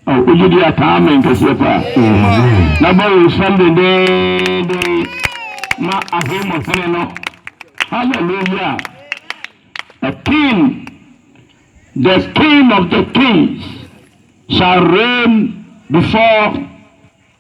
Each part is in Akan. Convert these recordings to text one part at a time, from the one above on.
Wogye di a kaa amen kɛseɛ paa. Na bɔ wo nsam dendeenden ma ahemmɔhene no. Hallelujah. A king, the king of the kings shall reign before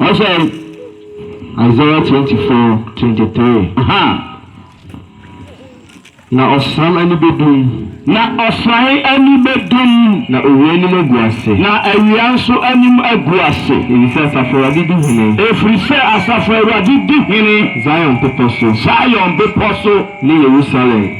Ɔsɛ Isaiah twenty four twenty three. Na ɔsram ani bɛdum. Na ɔsran ani bɛdum. Na owia anim agu ase. Na awia nso anim agu ase. Ɛfiri sɛ Asafo Awurade di hene. Ɛfiri sɛ Asafo Awurade di hene. Zion bepɔ so. Zion bepɔ so. Ne Yerusalem.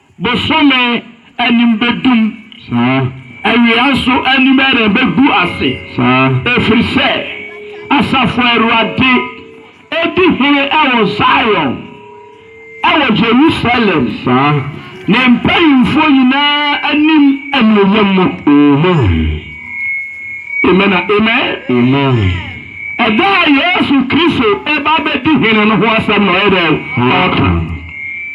Bosome anim bɛdum. Awia nso anim rebɛgu ase. Ɛfiri sɛ Asafo Awurade di hene wɔ Zion, wɔ Yerusalem, ne mpanimfoɔ nyinaa anim animuonyam mu. Amen na amen. Ɛda a Yesu Kristo bɛba abɛdi hene no ho asɛm na ɔyɛ dɛn? Ɔreka.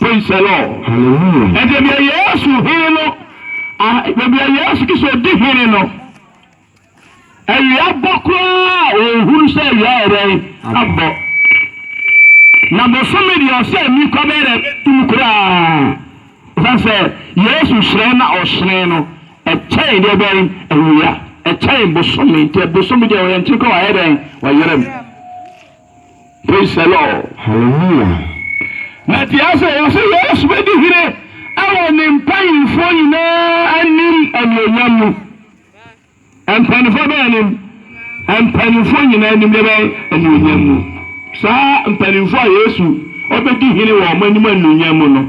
Praise the Lord. Hallelujah. Ɛnti deɛ Yesu hene no, ah, deɛ Yesu Kristo di hene no, awia bɔ koraa ɔhunu sɛ awia ɛdɛn abɔ. Na bosome deɛ ɔsɛ ani kɔ bɛyɛ dɛ bɛtum koraa. Ɛsiane sɛ Yesu hyerɛn na ɔhyerɛn no, ɛkyɛn deɛ bɛn awia, ɛkyɛn bosome. Nti bosome deɛ ɔyɛ nkyene kɔ wayɛ dɛn wayerɛ mu. Praise the Lord. Hallelujah. Na te ase wɔ sɛ Yesu bɛdi hene wɔ ne mpanyimfoɔ nyinaa anim anuonyam mu. Mpanyimfoɔ bɛn anim? Mpanyimfoɔ nyinaa anim deɛ bɛn anuonyam mu. Saa mpanyimfoɔ a Yesu ɔbɛdi hene wɔ wɔn anim anuonyam mu no,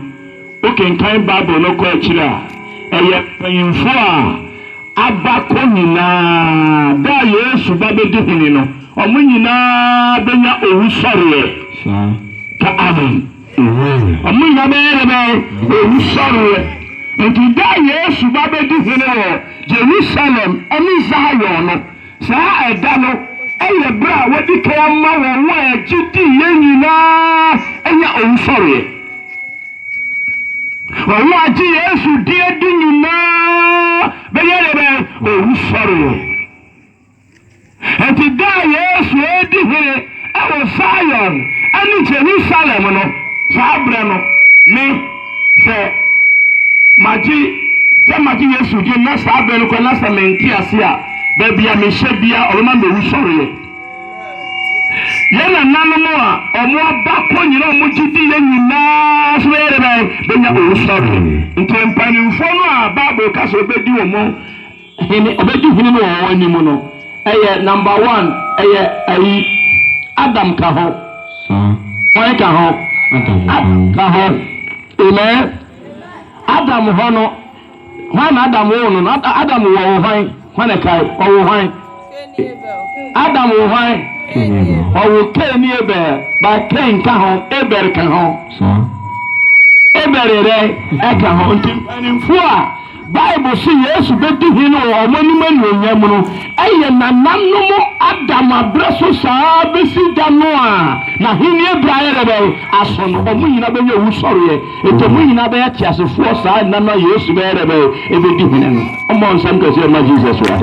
Wokenkan Bible no kɔ akyiri a, ɛyɛ mpanyimfo a aba kɔ nyinaa. Da a Yesu ba bedi hene no, wɔn nyinaa benya owusɔreɛ. Saa. Ka amen. Amen. Wɔn nyinaa bɛyɛ dɛ bɛn? Owusɔreɛ. Nti da a Yesu ba bedi hene wɔ Jerusalem ne Zion no, Saa ɛda no yɛ bere a wɔadi kan ama wɔn a wɔgye di yɛn nyinaa nya owusɔreɛ. Wɔn a wɔagye Yesu din adi nyinaa bɛnya deɛ bɛn? Owusɔreɛ. Enti da a Yesu redi hene wɔ Zion ne Jerusalem no, saa berɛ no, me Sɛ magye, sɛ magye Yesu di na saa bere no kɔ na sɛ mente ase a, baabi a mehyɛ bia ɔbɛma mewu sɔreɛ. Yɛn nananom a ɔmo aba kɔ nyina ɔmo gye di yɛ nyinaa so bɛyɛ dɛ bɛnya owu sɔreɛ. Nti mpanimfoɔ no a Bible ka sɛ ɔbɛdi ɔmo Hene ɔbɛdi hene no wɔ wɔn anim no ɛyɛ number one ɛyɛ ayi Adam ka ho wɔn ka ho Adam ka ho amen Adam hɔ no hwan na Adam woo no no Adam wɔ wo hwan hwan ɛkae ɔwo hwan. Adam wo hwan? Ɔwo Cain ne Abel, but Cain ka ho, Abel ka ho. Abel yɛ dɛn? Ɛka ho. Nti mpanimfoɔ a Bible se Yesu bɛdi hene wɔ wɔn anim anuonyam no yɛ nananom Adam aberɛ so saa ara bɛsi da no a n'ahennie berɛ ayɛ dɛ bɛn? Aso no. Wɔn nyinaa bɛnya owusɔreɛ. Nti mo nyina bɛyɛ teasefoɔ saa nna no a Yesu bɛyɛ dɛ bɛn? Ebedi hene no. Ɔmmɔ nsɛm kɛseɛ mma Jesus wa.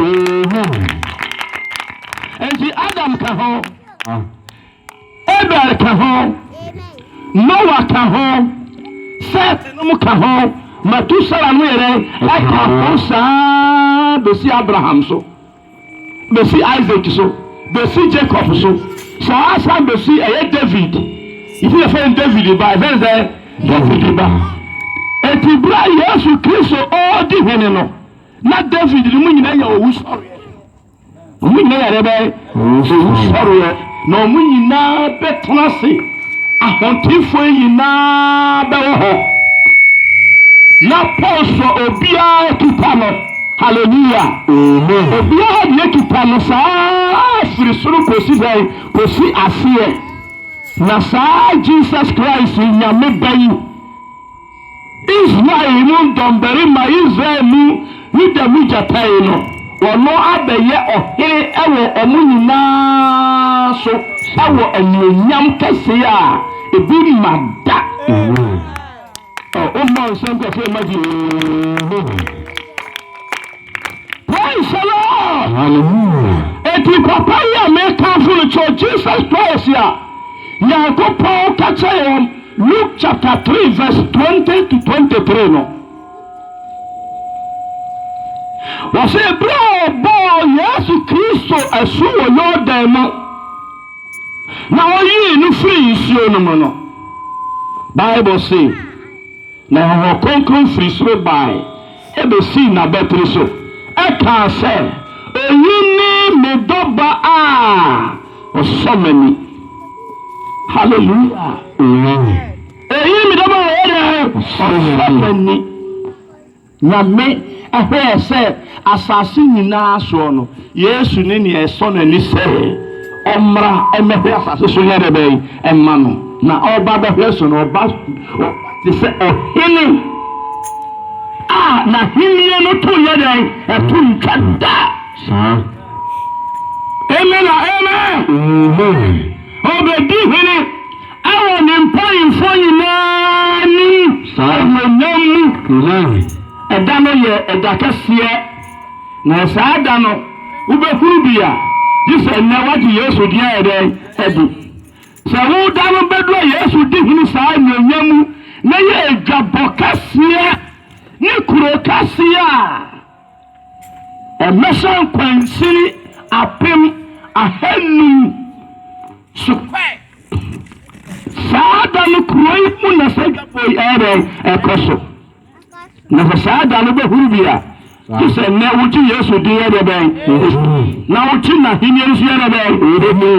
Nti Adam ka ho, Abel ka ho, Noah ka ho, Seth nom ka ho, Matusala nom yɛ dɛn? Ɛka ho saa besi Abraham so. besi Isaac so, besi Jacob so, saa ara san besi ɛyɛ David. Nti na fɛn David ba, ɛfɛn sɛ David ba. Eti bere a Yesu Kristo ɔredi hene no, na David no mu nyinaa yɛ owusɔreɛ. Wɔn nyinaa yɛ dɛ bɛyɛ owusɔreɛ. Na wɔn nyinaa bɛtena ase, ahotefoɔ nyinaa bɛwɔ hɔ. Na Paul sɔ obiara akita no. Hallelujah. Amen. Obiara deɛ akita no saa firi soro kɔsi dɛn? Kɔsi aseɛ. Na saa Jesus Christ nyame ba yi Israel mu dɔmbarima, Israel mu, Yuda mu gyatani no, ɔno abɛyɛ ɔhene wɔ wɔn nyinaa so wɔ anuonyam kɛse a ebi mma da mu. Ɔ, wommɔ nsa nkurɔfoɔ mma Jesus. Praise the Lord. Hallelujah. Eti papa yi a mekamfo no kyerɛ Jesus Christ a Nyankopɔn ka kyerɛ yɛn wɔ Luke chapter three verse twenty to twenty three no. Wɔsɛ ebere a ɔbɔɔ Yesu Kristo asu wɔ Yordan mu na ɔyii no firii nsuo no mu no, Bible se na Honhom Kronkron firi soro bae besii n'abatiri so kaa sɛ, Oyi ne me dɔ ba a ɔsɔ m'ani. Hallelujah! Oyi ne me dɔ ba a ɔyɛ dɛ ɔsɔ m'ani. Nyame hwɛɛ sɛ asase nyinaa soɔ no, Yesu ne nea ɛsɔ n'ani sɛ ɔmmra mmɛhwɛ asase so nyɛ dɛ bɛn? Mma no. Na ɔba bɛhwɛ so no, ɔba te sɛ ɔhene a n'ahenni no to nyɛ dɛn? Ɛto ntwa da. Saa. Amen a amen. Ɔbɛdi hene ɛwɔ ne mpanyimfoɔ nyinaa anim, anuonyam mu. Ɛda no yɛ ɛda kɛseɛ. Na wɔ saa da no, wobɛhunu bi a, gye sɛ nnɛ woagye Yesu din ayɛ dɛn? Adi. Sɛ wo da no bɛduru a Yesu di hene saa anuonyam mu na yɛ adwabɔ kɛseɛ ne kuro kɛseɛ a ɛmmɛhyɛ nkwansini apem ahanum so. Saa da no kuro yi mu na saa adwabɔ yi ɛyɛ dɛn? Ɛkɔ so. Na sɛ saa da no bɛhuru bi a, gye sɛ nnɛ wogye Yesu din yɛ dɛn? Na wogye n'ahenni no so yɛ dɛn?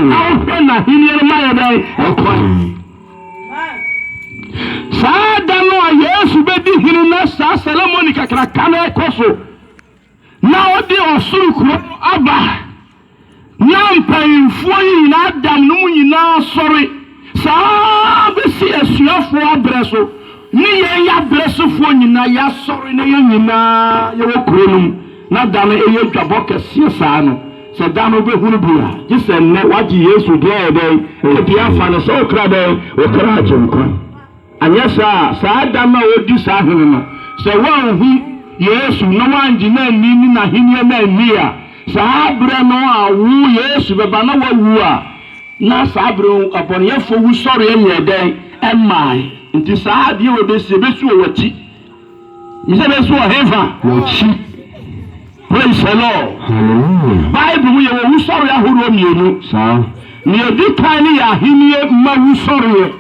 Na wohwɛ n'ahenni no ma yɛ dɛn? Ɛkwan. Saa da no a Yesu bɛdi hene na saa seremoni kakraka no rekɔ so. Na ɔde ɔsoro kuro no aba, na mpaninfoɔ yi nyinaa da mu no mu nyinaa sɔre, saa ara bɛsi asuafoɔ abrɛ so, ne yɛn yɛ abrɛ sofoɔ nyinaa yɛasɔre na yɛn nyinaa yɛwɔ kuro no mu, na da no ɛyɛ dwabɔ kɛseɛ saa no, sɛ da no wobɛhunu bi a, gye sɛ nnɛ woagye Yesu deɛ ayɛ dɛn, ɛyɛ deɛ afa no sɛ wo kra dɛn, wo kra agye nkwa. Anyɛ saa a, saa da no a odi saa ahene no, sɛ wɔanhu Yesu na wɔangye no anni ne n'ahenni no anni a, saa berɛ no a wo, Yesu, bɛba na woawu a, na saa berɛ no abɔneyɛfoɔ wusɔreɛ nyɛɛ dɛn? Ɛmmae. Nti saa adeɛ wei bɛsi, ɛbɛsi wɔ w'akyi. Mese ɛbɛsi wɔ hefa? W'akyi. Praise the Lord. Hallelujah. Bible mu yɛwɔ wusɔreɛ ahodoɔ mmienu. Saa. Nea ɛdi kan no yɛ ahennie mma wusɔreɛ.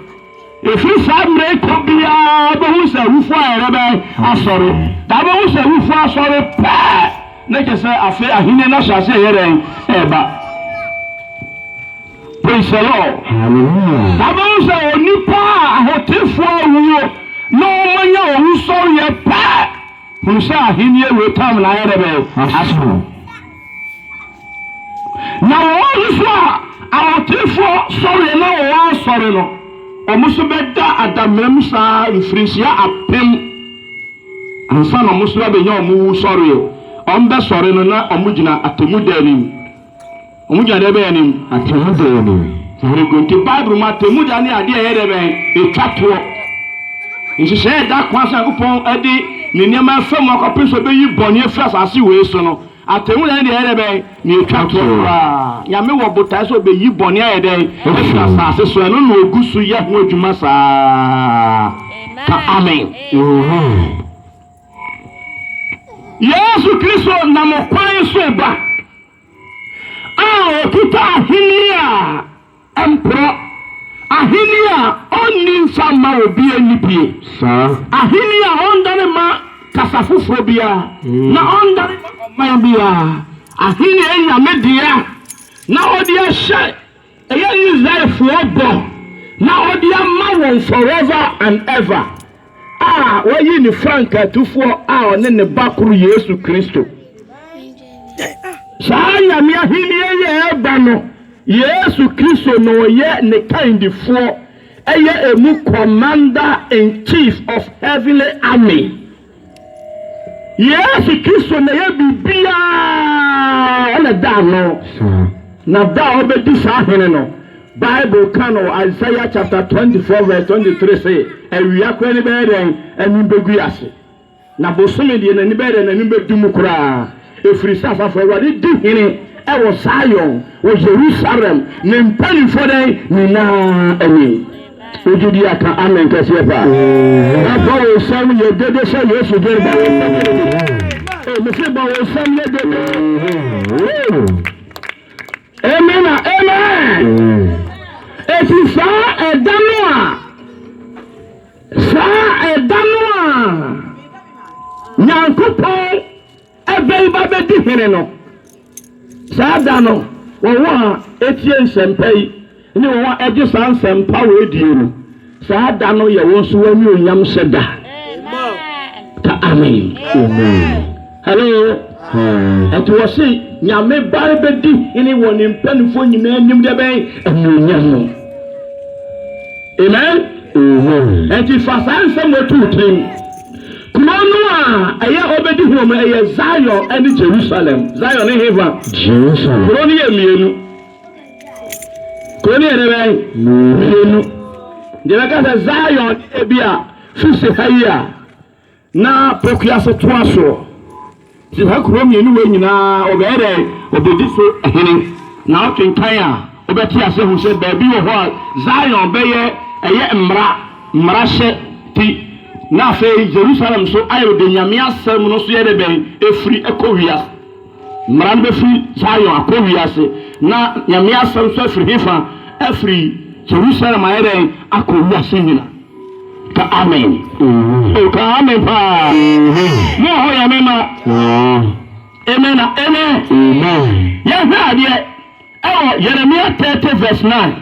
Efi saa mmerɛ yi kɔ biara wobɛhu sɛ awufoɔ ayɛ dɛ bɛn? Asɔre. Da wobɛhu sɛ awufoɔ asɔre pɛ na kyɛ sɛ afei ahennie no ahyɛ ase ɛyɛ dɛn? Ɛreba. Praise the Lord. Hallelujah. Da wobɛhu sɛ onipa a ahotefoɔ awuo na wɔanya owusɔreɛ pɛ, hunu sɛ ahennie wei tam no ayɛ dɛ bɛn? Aso. Na wɔn nso a ahotefoɔ sɔre na wɔn asɔre no, wɔn nso bɛda adamam saa mfirinhyia apem ansa na wɔn nso abɛnya wɔn wu sɔreɛ. Wɔn bɛsɔre no na wɔn gyina atemmuda anim. Wɔn gyina dɛn bɛyɛ anim? Atemmuda anim. Sɛ yɛkɔ nti Bible mu atemmuda ne adeɛ a ɛyɛ dɛ bɛn ɛtwa toɔ. Nhyehyɛeɛ a ɛda kwan sɛ Nyankopɔn de ne nneɛma afa mu akɔpem sɛ ɔbɛyi bɔne afiri asase wei so no, atemmuda ne deɛ ɛyɛ dɛ bɛn na ɛtwa toɔ koraa. Nyame wɔ botaeɛ sɛ ɔbɛyi bɔne ayɛ dɛn afiri asase so, ɛno na ɔgu so yɛ ho adwuma saa. Ka Amen. Yesu Kristo nam ɔkwan so reba. a ɔkita ahenni a ɛmporɔ, ahenni a ɔnni mfa mma obi anibue, ahenni a ɔndane mma kasa foforɔ biara na ɔndane mma ɔman biara, ahenni a ɛnya ne deɛ a na ɔde ahyɛ Ɛyɛ Israelfoɔ bɔ na ɔde ama wɔn forever and ever a wayi ne frankatufoɔ a ɔne ne ba koro Yesu Kristo. Saa Nyame ahennie yi a ɛreba no, Yesu Kristo na ɔyɛ ne kandifoɔ, ɛyɛ emu commander in chief of heavenly army, Yesu Kristo na ɛyɛ biribiara, ɔna ɛda ano. Na da a ɔbɛdi saa hene no, Bible ka no wɔ Isaiah chapter 24 verse 23 se, awia koraa ani bɛyɛ dɛn? Anim bɛgu ase. Na bosome deɛ n'ani bɛyɛ dɛn? N'anim bɛdum koraa. Ɛfiri sɛ Asafo Awurade di hene wɔ Sion, wɔ Yerusalem, ne mpanimfoɔ dɛn nyinaa anim. Wogye di a ka amen kɛseɛ paa. Na bɔ wo nsam yɛ dede sɛ Yesu dwene ba asɛm mese bɔ wo nsam yɛ dede. Amen na amen. Ɛfiri saa ɛda no a saa ɛda no a Nyankopɔn Afei ba bɛdi hene no. Saa da no, wɔn a etie nsɛmpa yi ne wɔn a ɛgye saa nsɛmpa wɔ edie no, saa da no yɛ wɔn so anuonyam hyɛ da. Ka amen. Hello. Ɛti wɔ se nyame ba bɛdi hene wɔ ne mpanimfoɔ nyinaa anim deɛ bɛn anuonyam no. Amen. Ɛti fa saa nsɛm wɔtu tirim. Kurow no a ɛyɛ Obed-Edom no, ɛyɛ Zion ne Jerusalem. Zion ne hefa? Jerusalem. Kurow no yɛ mmienu. Kurow no yɛ dɛ bɛn? Mmienu. Deɛ bɛka sɛ Zion ne ebi a firi se ha yi a na Pokuase toa soɔ. Saa kurow mmienu wei nyinaa, ɔbɛyɛ dɛ obedi so hene. Na wokenkan a, wobɛte ase ahu sɛ baabi wɔ hɔ a Zion bɛyɛ ɛyɛ mmara, mmarahyɛ ti, na afei Yerusalem nso ayɛ dɛ Nyame asɛm no nso yɛ dɛ bɛn afiri kɔ wiase. Mmara no bɛfiri Zion akɔ wiase, na Nyame asɛm nso afiri hefa? Afiri Yerusalem ayɛ dɛn akɔ wiase nyinaa. Ka amen. Oh, ka amen paa. Mo a hoyɛ me ma. Amen na amen. Yɛhwɛ adeɛ ɛwɔ Yeremia 30 verse 9.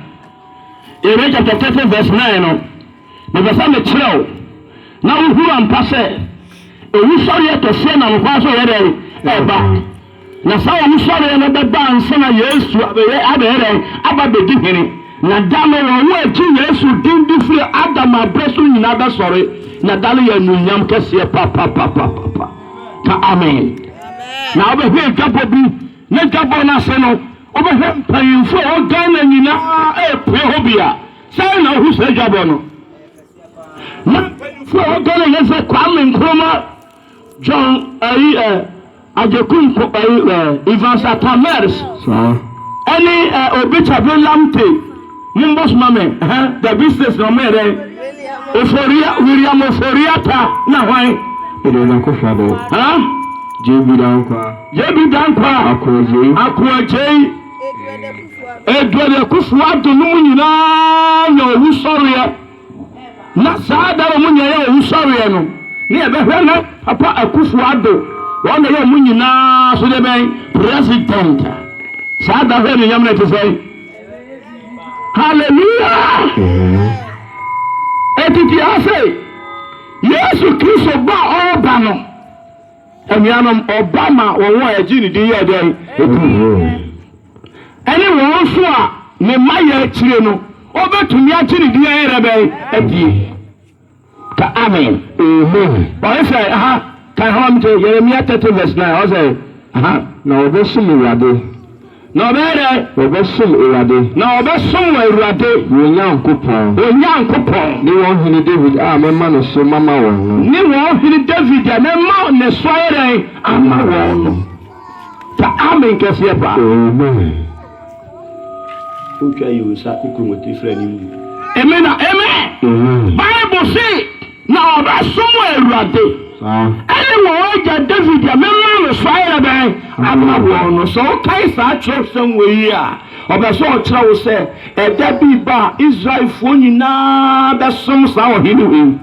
Yeremia chapter 30 verse 9 no, mepɛ sɛ mekyerɛ wo na wohuru ampa sɛ owusɔreɛ kɛseɛ nam kwan so yɛ dɛn ɛba. Na saa owusɔreɛ no bɛba ansa na Yesu abɛyɛ abɛyɛ dɛn? Aba abɛdi hene. Na da no wɔn a wɔgye Yesu din di firi Adam aberɛ so nyinaa bɛsɔre, na da no yɛ anuonyam kɛseɛ papapapapapa. Ka amen. Na wobɛhwɛ adwabɔ bi, na dwabɔ no ase no, wobɛhwɛ mpanyimfoɔ a ɛwɔ Ghana nyinaa ɛrepue hɔ bi a, sɛn na wohu saa dwabɔ no? Na mpanyimfoɔ a ɛwɔ Ghana nyinaa sɛ Kwame Nkrumah, John ayi ɛ. Agyekumku Evans Atta Mers ɛne Obichabwe Lamptey mombɔ soma me ɛhɛ the business na ɔmo yɛ dɛn Oforia William Oforia ta na hwan Ɛde ɔna kofa dɛ ha JB Dankwa JB Dankwa Akoagyei Akoagyei Eduade Kufuor Addo no mu nyinaa yɛ owusɔreɛ. Na saa da no mu nea ɛyɛ owusɔreɛ no ne yɛbɛhwɛ no papa akufo ado wɔn na ɛyɛ wɔn nyinaa so deɛ bɛn president saa da hwɛ anuonyam no ɛte sɛ hallelujah ɛtiti ase yesu kristo ba ɔba no anuanom ɔba ma wɔn a ɛgye ne din yɛ dɛn ɛdi Ɛne wɔn nso a ne mma yɛ akyire no, ɔbɛtumi agye ne din ayɛrɛ bɛn adie. Ka amen. Amen. Ɔyɛ sɛ ha kan hama mi te Yeremia thirty verse nine ɔsɛ ha. Na wɔbɛsom Awurade. Na ɔbɛyɛ dɛ. Wɔbɛsom Awurade. Na wɔbɛsom wɔ Awurade. Wɔn Nyankopɔn. Wɔn Nyankopɔn. Ne wɔn hene David a mɛma ne so mama wɔn no. Ne wɔn hene David a mɛma ne so ayɛ dɛn ama wɔn no. Fa amen kɛseɛ fa. Amen Wotwa yi wo nsa ko komotiri fra ne mu. Amen a amen. Amen. Bible se na ɔbɛsom Awurade ɛne wɔn agya David deɛ mema no so ayɛ dɛn ama wɔn no. Sɛ wokae saa kyerɛwsɛm wei yi a, ɔpɛ sɛ ɔkyerɛ wo sɛ ɛda bi ba a Israelfoɔ nyinaa bɛsom saa ɔhene wei.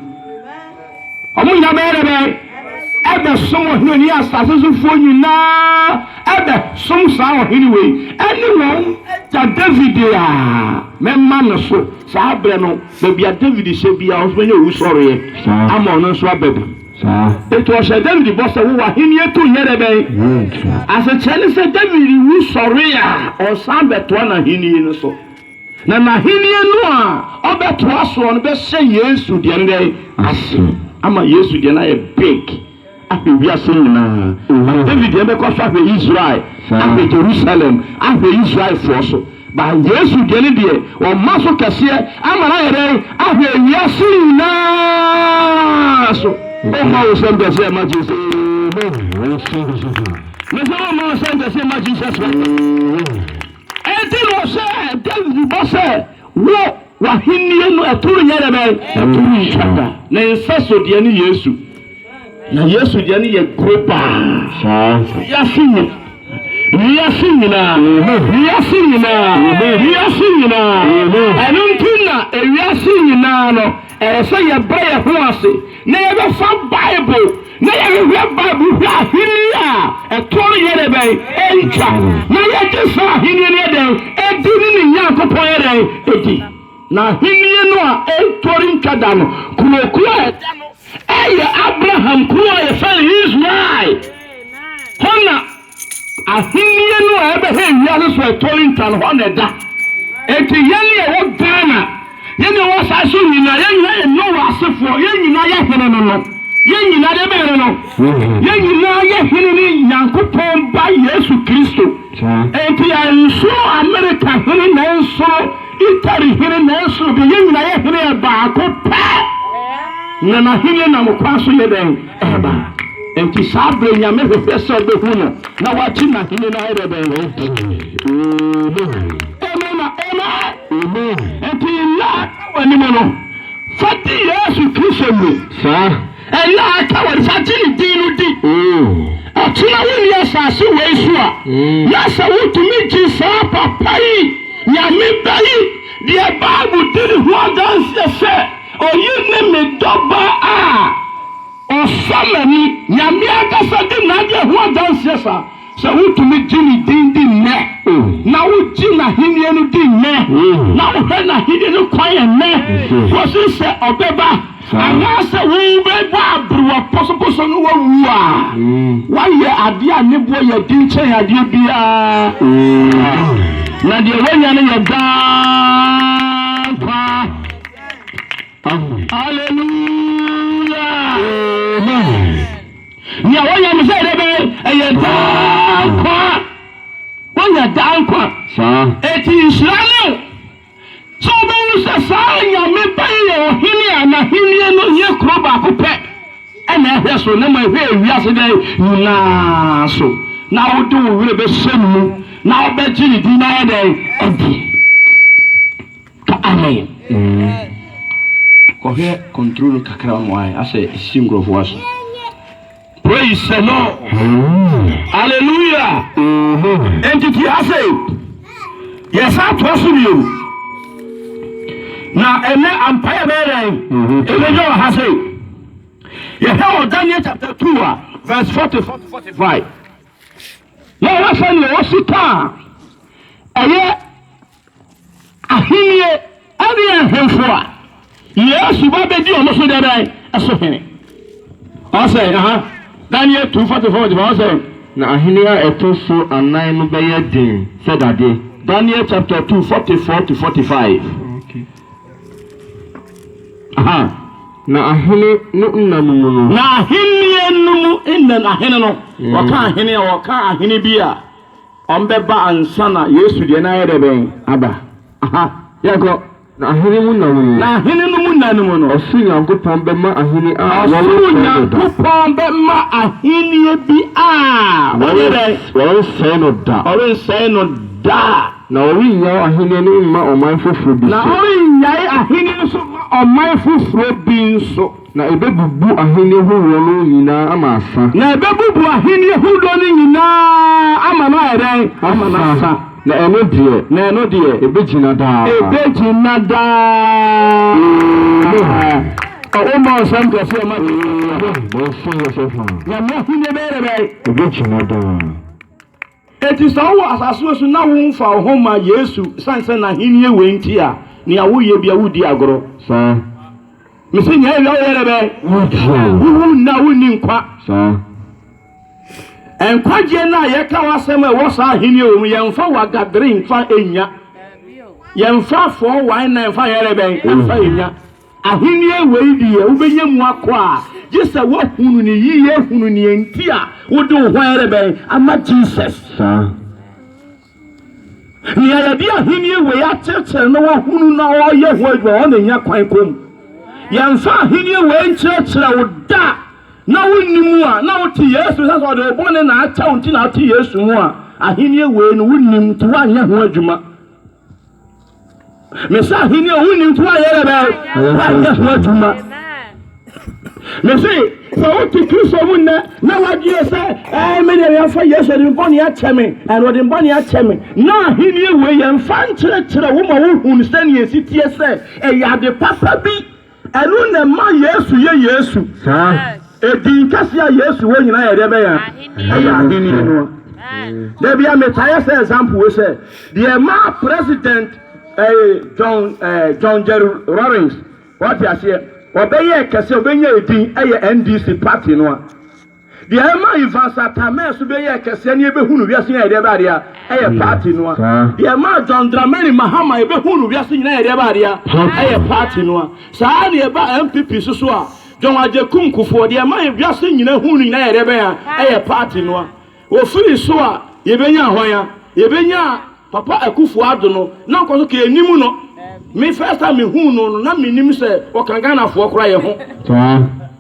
Wɔn nyinaa bɛyɛ dɛ bɛn? Ɛbɛsom ɔhene ɔne asase sofoɔ nyinaa ɛbɛsom saa ɔhene wei ɛne wɔn agya David a mɛma no so. Saa berɛ no, baabi a David hyɛ biara wɔn nso bɛnya owusɔreɛ ama ɔno nso aba bi. Enti wɔhyɛɛ David bɔ sɛ, Wo w'ahennie to nyɛ dɛ bɛn? Asekyerɛ ne sɛ David wu sɔre a, ɔnsan bɛtoa n'ahennie no so. Na n'ahenni no a ɔbɛtoa soɔ no bɛhyɛ Yesu deɛ no dɛn ase ama Yesu deɛ no ayɛ big ahwɛ wiase nyinaa. But David deɛ bɛkɔ so ahwɛ Israel, ahwɛ Jerusalem, ahwɛ Israelfoɔ so. Ba Yesu deɛ no deɛ ɔma so kɛseɛ ama no ayɛ dɛn ahwɛ wiase nyinaa so. Ɔma wo sɛm kɛseɛ ma Jesus. Mesɛ ɔma wo sɛm kɛseɛ ma Jesus. Enti na ɔhyɛɛ Dawid bɔ sɛ, Wo, w'ahenni no, ɛto renyɛ dɛ bɛn? Ɛto rentwa da. Ne nsa so deɛ ne Yesu, na Yesu deɛ no yɛ kuro paa. Wiase nyina, wiase nyinaa, wiase nyinaa, wiase nyinaa. Ɛno nti na ewiase nyinaa no. Ɛsɛ sɛ yɛbrɛ yɛn ho ase na yɛbɛfa Bible na yɛhwehwɛ Bible hwɛ Ahenni a ɛtoɔ no yɛ dɛ bɛn ntwa na yɛgye saa Ahenni no yɛ dɛn ɛdi ne ne Nyankopɔn yɛ dɛn ɛdi. Na Ahenni no a ɛtoɔ no ntwa da no kuro kuro a ɛda no ɛyɛ Abraham kuro a yɛfrɛ no Israel. Hɔ na. Ahenni no a ɛbɛhɛn wiase so a ɛtɔ ntan hɔ na ɛda. Enti yɛn a ɛwɔ Ghana, yɛn a ɛwɔ asaase so nyinaa, yɛn nyinaa yɛ Noa asefoɔ, yɛn nyinaa yɛ hene no no. Yɛn nyinaa deɛ bɛyɛ no no, yɛn nyinaa yɛ hene ne Nyankopɔn ba Yesu Kristo. Enti ɛnsoro Amerika hene na ɛnsoro Italy hene na ɛnsoro deɛ yɛn nyinaa yɛ hene yɛ baako pɛ. Na n'ahenni nam kwan so yɛ dɛn? Aba. Enti saa bere Nyame hwehwɛ sɛ ɔbɛhu no na wagye N'ahenni no ayɛ dɛ dɛn? Amen. Amen na Amen. Amen. Enti nna a aka w'anim no, fa di Yesu Kristo ni. Saa. Nna a aka w'anim, fa gye Ne din no di. Oh. Ɔkyena wonni asase wei so a, na sɛ wotumi gye saa papa yi, Nyame ba yi, deɛ Bible di ne ho adanseɛ sɛ. Oyi ne me dɔba a ɔsɔ m'ani. Nyame ankasa di n'adeɛ ho adanseɛ saa. Sɛ wotumi gye ne din di nnɛ, na wogye n'ahennie no di nnɛ, na wohwɛ n'ahennie no kwan ɛnnɛ, kɔsi sɛ ɔbɛba, anaasɛ wobɛbɔ aberewa pɔsopɔsɔ na woawu a, woayɛ adeɛ a ne boɔ yɛ den kyɛn adeɛ biara, na deɛ woanya no yɛ daa nkwa. Hallelujah. Amen. Nea wɔyɛ no sɛ dɛbɛ ɛyɛ daa nkwa. Wɔyɛ daa nkwa. Saa. Eti nhyira ne o. Sɛ wobɛhu sɛ saa nyame ba yi yɛ ɔhene a n'ahennie no yɛ kuro baako pɛ ɛna ɛhwɛ so na ma ɛhwɛ ewiase dɛ nyinaa so na wode wo werɛ bɛhyɛ ne mu na wobɛgye ne din na ayɛ dɛn adi. Ka amen mm. Kɔ hwɛ control no kakra ma wae asɛ esisi nkurɔfoɔ aso. Praise the Lord. Hallelujah. Enti ti ase yɛsan toa so bio. Na ɛnɛ ampa yɛ bɛyɛ dɛn? Ɛbɛnya wɔ ha se yɛhwɛ wɔ Daniel chapter 2 a verse 44 to 45 na wɔhwɛ sɛdeɛ wɔsi kaa ɛyɛ Ahenni ne ahemfo a Yesu ba bedi wɔn so dɛ bɛn? So hene. Ɔsɛ aha Daniel two forty four forty five ɔsɛ. Na ahenni a ɛto so anan no bɛyɛ den sɛ dade. Daniel chapter two forty four to forty five. Aha. Na ahene no nna no mu no. Na ahenni no mu nna no ahene no wɔka ahene a wɔka ahene bi a. Ɔmbɛba ansa na Yesu deɛ no ayɛ dɛ bɛn? Aba. Aha. Yɛnkɔ. Na ahene mu nna mu no. Na ahene no mu nna no mu no. Ɔsoro Nyankopɔn bɛma ahene a wɔwɔ sɛɛ no da. Ɔsoro Nyankopɔn bɛma aheneɛ bi a wɔyɛ dɛn? Wɔrensɛe no da. Wɔrensɛe no da. Na wɔrennyae aheneɛ no mma ɔman foforɔ bi so. Na wɔrennyae aheneɛ no so mma ɔman foforɔ bi nso. Na ebebubu ahenni horoɔ no nyinaa ama asa. Na ebebubu ahenni horoɔ no nyinaa ama no ayɛ dɛn? Ama no asa. Na ɛno deɛ. Na ɛno deɛ. Ebegyina daa. Ebegyina daa. Ɔwɔ mmɔ nsɛm kɛseɛ ma Jesus. Amen. Monse yɛ sɛ faa. Nyame ahennie bɛyɛ dɛ bɛn? Ebegyina daa. Enti sɛ wowɔ asase wei so na womfa wo ho mma Yesu esiane sɛ n'ahenni wei nti a, nea woyɛ biara woredi agorɔ. Saa. Mese nea awia woyɛ dɛ bɛn? Wotie. Wowu nnɛ a wonni nkwa. Saa. Nkwagyeɛ no a yɛka w'asɛm a ɛwɔ saa ahenni wei mu, yɛmfa wagadere mfa nnya. Yɛmfa fɔɔ wan na mfa nyɛ dɛ bɛn? Mfa nnya. Ahonie wei deɛ, wobɛnya mu akɔ a, gye sɛ woahunu no yiye, hunu nea enti a wode wo ho rebɛn ama Jesus. Saa. Nea yɛde Ahennie wei akyerekyere na wahunu na ɔreyɛ ho adwuma, ɔno na ɛnya kwan kɔ mu. Yɛmfa Ahennie wei nkyerɛkyerɛ wo da a na wonni mu a, na wote Yesu sɛ sɛ ɔde wo bɔne na akyɛ wo nti na wote Yesu mu a, Ahennie wei no wonnim nti woanyɛ ho adwuma. Mese ahenni a wonni nko ayɛ dɛ bɛn wayɛ ho adwuma. Mese sɛ wote Kristo mu nnɛ na wadwene sɛ ɛɛ me deɛ yɛmfa Yesu ɔde me bɔne akyɛ me ɛna ɔde me bɔne akyɛ me na ahenni wei yɛmfa nkyerɛkyerɛ wo ma wohunu sɛnea ɛsi teɛ sɛ ɛyɛ ade papa bi Ɛno na ɛma Yesu yɛ Yesu. Edin kɛse a Yesu wɔ nyinaa yɛ deɛ bɛyɛ ɛyɛ ahenni no. Da bi a metaeɛ sɛ example wei sɛ deɛ ɛmaa president eh, John, eh, John Jerry Rawlings wate aseɛ ɔbɛyɛ kɛse ɔbɛnya edin ɛyɛ NDC party no a Deɛ ɛma Ivan Szatamir so bɛyɛɛ kɛseɛ ne yɛbɛhu no wiase nyinaa yɛ deɛ ɛbɛyɛ adeɛ a ɛyɛ party no ara. Deɛ ɛmaa John Dramani Mahama yɛbɛhu no wiase nyinaa yɛ deɛ ɛbɛyɛ adeɛ a ɛyɛ party no ara. Saa ara na ɛbaa NPP nso so a John Agyekum Kufuor, deɛ ɛma wiase nyinaa hu no nyinaa yɛ deɛ ɛbɛyɛ a ɛyɛ party no ara. Wɔfiri so a yɛbɛnya hwan a? Yɛbɛnya Papa Akuffo Addo no, na nkɔso ka yɛnnim no. Me first time mehuu no no na mennim sɛ ɔka Ghanafoɔ koraa yɛ ho.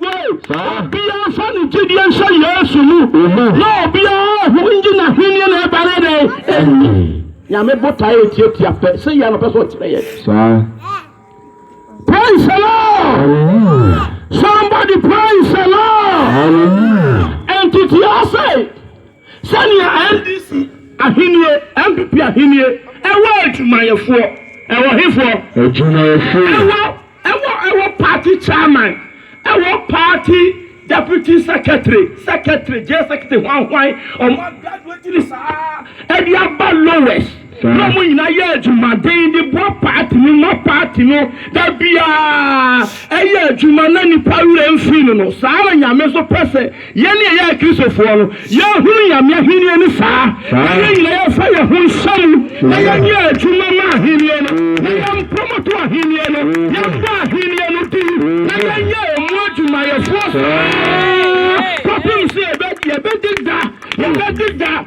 Obiara nfa ne gyedie nhyɛ Yesu mu na obiara ho ngye n'ahennie na ɛba no dɛn ɛni. Nyame botaeɛ yɛ tiatia pɛ, sɛ yɛ na ɔpɛ sɛ ɔkyerɛ yɛ. Saa. Praise the Lord. Somebody praise the Lord. Ɛnti tia sɛ Sɛnea NDC ahennie, NPP ahennie, ɛwɔ adwumayɛfoɔ, ɛwɔ hefoɔ? Adwumayɛfoɔ. Ɛwɔ, ɛwɔ, ɛwɔ party chairman, ɛwɔ party deputy secretary, secretary, general secretary, hwanhwan, wɔn a graduate no saa, ɛde aba lowest. Bere a wɔn nyinaa yɛɛ adwumaden de boa paati no ma paati no da biara yɛ adwuma na nnipa werɛ mfii no no, saa ara na Nyame nso pɛ sɛ yɛn a yɛyɛ Kristofoɔ no, yɛhunu Nyame ahennie no saa, na yɛn nyinaa yɛmfa yɛn ho nhyɛ mu na yɛnyɛ adwuma ma ahennie no, na yɛmpromoto ahennie no, yɛmmɔ ahennie no din, na yɛnyɛ ɛmu adwumayɛfoɔ saa ara kɔpem sɛ yɛbɛdeda, yɛbɛdeda.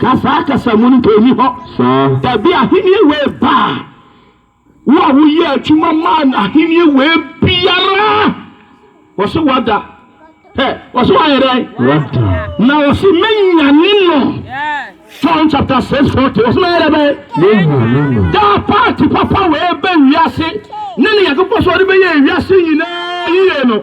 Ka saa kasamu no nka ɛnni hɔ. Dabi, ahennie wei ba a, wo a woyɛ adwuma maa no ahennie wei biara, wɔse wada. Hɛ, wɔse wayɛ dɛn? Wada. Na wɔse mɛnyane no. John chapter 6 40, wɔse mɛyɛ dɛ bɛn? Mɛnyane no. Daa paati papa wei bɛ wiase ne ne Nyankopɔn sɛ ɔde bɛyɛ wiase nyinaa yie no.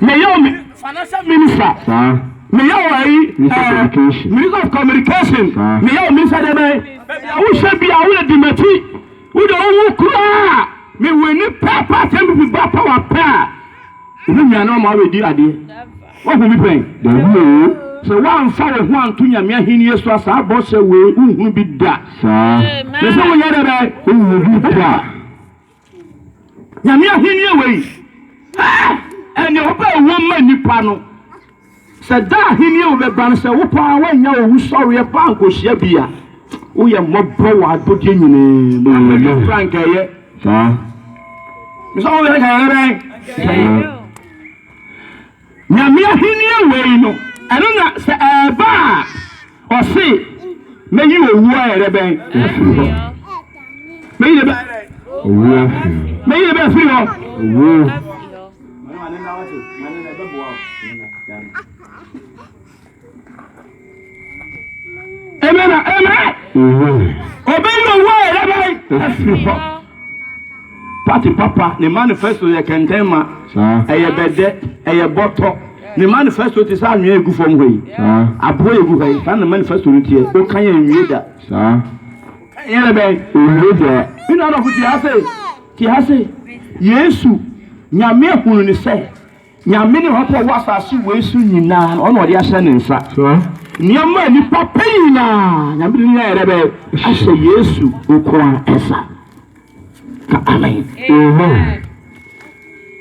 Meyɛ o financial minister. Saa. Meyɛ o ayi. Minister of eh, communication. Minister of communication. Saa. Meyɛ o minister de bɛn. Baabi a wohyɛ bi a wode di m'akyi. Wode wowu koraa. Mewɔ ni pɛɛpɛ asɛm bi fi ba power pɛ a. Ebi nwa na ɔma wabɛdi adeɛ. Wahu bi pɛn. Dabi o. Sɛ woamfa wo ho anto nyame ahenni so a saa bɔhyɛ wei wohunu bi da. Saa. Mese wonyɛ dɛ bɛn. Wohunu bi da. Nyame ahenni wei, eh, ɛne ɔba ɛwom ma nnipa no. Sɛ da ahenni wo bɛba no, sɛ wo paa woanya owu sɔreɛ paa nkohyia bi a, woyɛ mmɔbɔ wɔ abɔdeɛ nyinaa mu. Abɛdɛ kura nkɛyɛ. Saa. Mesɛ wo bɛyɛ nkɛyɛ bɛn? Nkɛyɛ. Nyame ahenni wei no, ɛno na sɛ ɛreba a, ɔse, mɛyi owuo ayɛ dɛ bɛn? Afiri hɔ. Mɛyi dɛ bɛn? Owuo afiri hɔ. Mɛyi dɛ bɛn afiri hɔ? Owuo. Amen. Amen. Ɔbɛyi owó a ɛyɛ dɛ afiri hɔ. Pati papa ne manifesto yɛ kɛntɛn ma. Ɛyɛ bɛdɛ, ɛyɛ bɔtɔ. Ne manifesto ti sɛ anwea egu fam hɔ yi. Aboɔ egu hɔ yi. Saa ne manifesto no tiɛ. O kan yɛ nwie da. Ɛyɛ dɛ bɛn. Nwie da. Mi na adɔfo ti ase. Ti ase. Yesu nyame ehunu ne sɛ. Nyame ne Ɔhɔfo a ɔwɔ asase wei so nyinaa no, ɔna ɔde ahyɛ ne nsa. Nneɛma a nnipa pɛ nyinaa, Nyame de ne nyinaa yɛ dɛ bɛn? Ahyɛ Yesu nko ara nsa. Ka amen.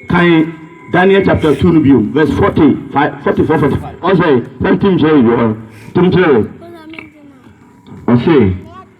Kan Daniel chapter 2 no bio, verse 40, 44, 45. Ɔsɛ, sɛ ntim kyerɛ yɛ, ntim kyerɛ yɛ. Ɔsɛ.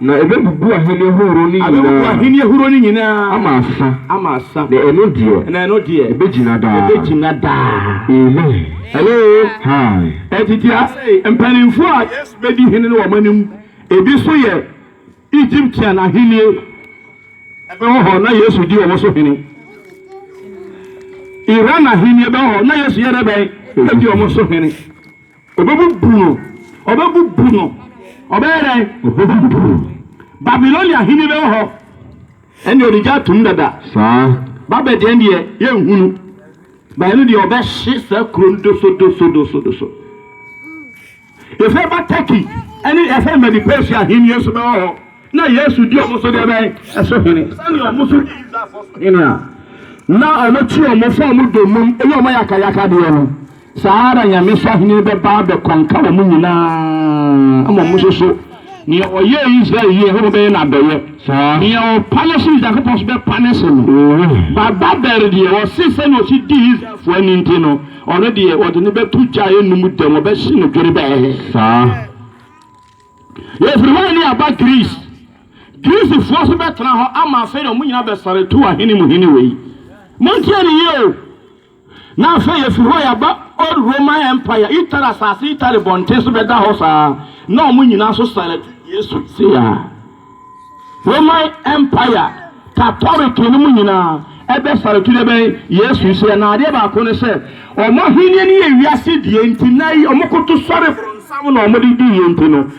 Na ebebubu ahenni ahorow no nyinaa. Abebubu ahenni ahorow no nyinaa. Ama asa. Ama asa. Na ɛno deɛ. Na ɛno deɛ. Ebegyina daa. Ebegyina daa. Amen. Hello. Hi. Enti te ase, mpanimfoɔ a Yesu bedi hene no wɔ wɔn anim. Ebi nso yɛ Egyptian ahenni. Ɛbɛwɔ hɔ, na Yesu di wɔn so hene. Iran ahenni bɛwɔ hɔ, na Yesu yɛ dɛ bɛn? Edi wɔn so hene. Obebubu no, ɔbɛbubu no, ɔbɛyɛ dɛn? Obebubu no. Babilonia hene bi wɔ hɔ, ɛnneɛ ɔde gya atom dada. Saa. Babel deɛ deɛ yɛnhu no, bae no deɛ ɔbɛhye saa kuro no doso doso doso doso. Yɛfɛ ba Turkey ɛne yɛfɛ Medi Persia hene nso bɛwɔ hɔ na Yesu di ɔmo so deɛ bɛn ɛso hene sɛnea ɔmo so di Israelfoɔ so hene a na ɔmo kyi ɔmo fa ɔmo domum ɛyɛ ɔmo yakayaka deɛ no. Saa ara na Nyame sahenni bɛba abɛkɔnka wɔn nyina ara, mmom mo nso so. Nea ɔyɛɛ Israel yie, Nyankopɔn bɛyɛ no adɔeɛ, nea ɔpa no hye, Nyankopɔn nso bɛpa no hye no. Baba Beer deɛ, ɔse sɛnea ɔsi dii Israelfoɔ ani nti no, ɔno deɛ wɔde no bɛto gya a ɛnnum dam, wɔbɛhye no dwerebɛɛ. Saa. Yɛfiri hɔ ne aba Greece. Greecefoɔ nso bɛtena hɔ ama afei deɛ wɔn nyina bɛsare tu ahene mu hene wei. Montie no yie o! Na afei yɛafi hɔ yɛaba Old Roman Empire, Italy asase, Italy bɔnten so bɛda hɔ saa, na wɔn nyinaa nso san atu Yesu. Sei ara, Roman Empire, Katolek nom nyinaa, ɛbɛsan atu dɛbɛn? Yesu. Nso yɛn adeɛ baako ne sɛ, wɔn ahennie no yɛ wiase deɛ nti, nnɛ yi wɔkoto sɔre bronsam na wɔde di yie nti no,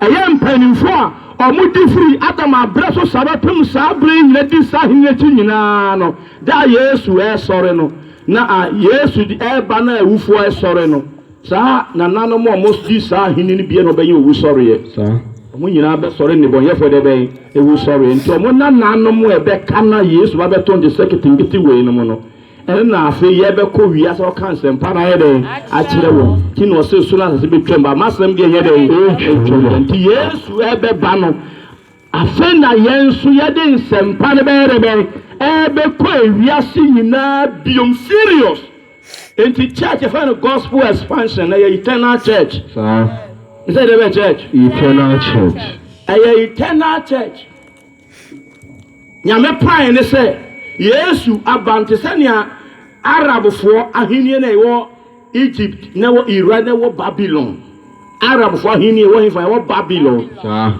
Ɛyɛ mpanyimfo a wɔde firi Adam aberɛ so saa bɛpem saa berɛ yi nyina di saa ahennie akyi nyina ara no, da a Yesu resɔre no, na a Yesu de reba no a awufoɔ resɔre no, saa nananom a wɔdi saa ahennie no bie na wɔbɛnya owusɔreɛ. Saa. Wɔn nyina ara bɛsɔre nnebɔneyɛfoɔ deɛ bɛn? Awusɔreɛ. Nti wɔn nananom a ɛbɛka no a Yesu ba bɛto wɔn de sɛ ketenkete wei nom no, Ɛno na afei yɛbɛkɔ wiase akɔka nsɛmpa no ayɛ dɛn? Akyerɛ wɔn. Nti na ɔse soro ne asase bɛtwam but m'asɛm deɛ ɛnyɛ dɛn? Ɛntwam da. Nti Yesu ɛbɛba no afei na yɛn nso yɛde nsɛmpa no bɛyɛ dɛn? Bɛn? Ɛbɛkɔ wiase nyinaa biom serious. Nti church yɛfrɛ no gospel expansion na ɛyɛ eternal church. Saa. Ɛsɛ deɛ bɛn church? Eternal church. Ɛyɛ eternal church. Nyame pae ne sɛ Yesu aba no te sɛ nea Arabfoɔ ahenni no a ɛwɔ Egypt na ɛwɔ Iran na ɛwɔ Babylon. Arabfoɔ ahenni ɛwɔ hefa? Ɛwɔ Babylon.